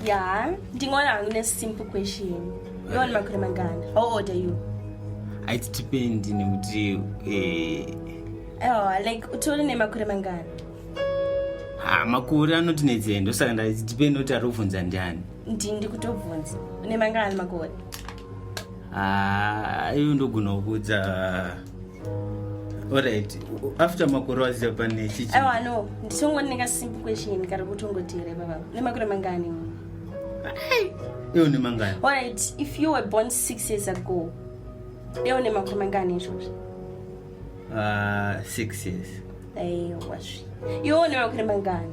ya ndingoona hangu nesimple question yoona makore mangani how old are you it depend nekuti eh, oh, like utori nemakore mangani ha makore anoti nedzei ndosaka nda it depend kuti ari kuvhunza ndiani ndini ndikutobvunza une mangani makore ha ivo ndogona kukudza Alright, after makore waziva pane chichi. Aiwa no, ndichongwa ndinenge simple question kari kutongoteera baba. Une makore mangani? Iwe une mangani? Alright, if you were born 6 years ago, iwe une makore mangani izvozvo? Ah, uh, 6 years. Aiwa zvi. Iwe une makore mangani?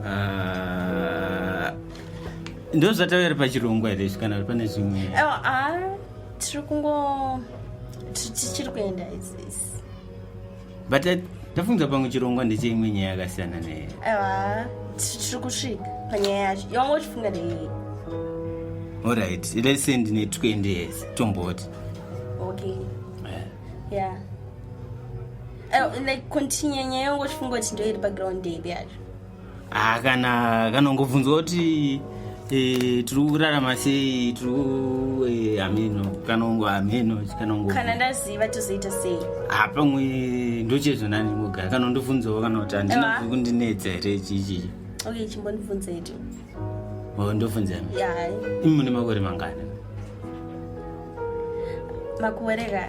Ah, uh, ndozvataura pachirongwa here kana pane zvimwe? Aiwa, ah. tiri kungo tichiri kuenda izisi but tafunga pamwe chirongwa ndecheimwe nyaya yakasiyana neye aiwa tiri kusvika panyaya yacho yawanga uchifunga ndeiyi orit let's say ndine 20 years tomboti okay eh. yeah eh, like continue nyaya yongo chifunga kuti ndoiri paground dave yacho ah, kana kanongobvunzwa kuti e, tiri kurarama sei tiri hameno eh, kanongo hameno kanongo kana ndaziva tozoita sei ha ah, pamwe ndochezvo nani mogara kanondibvunzawo kana kuti handina kundinetsa here chichichi okay chimbondibvunza ito oh, ndobvunza imi mune makore mangani makore ka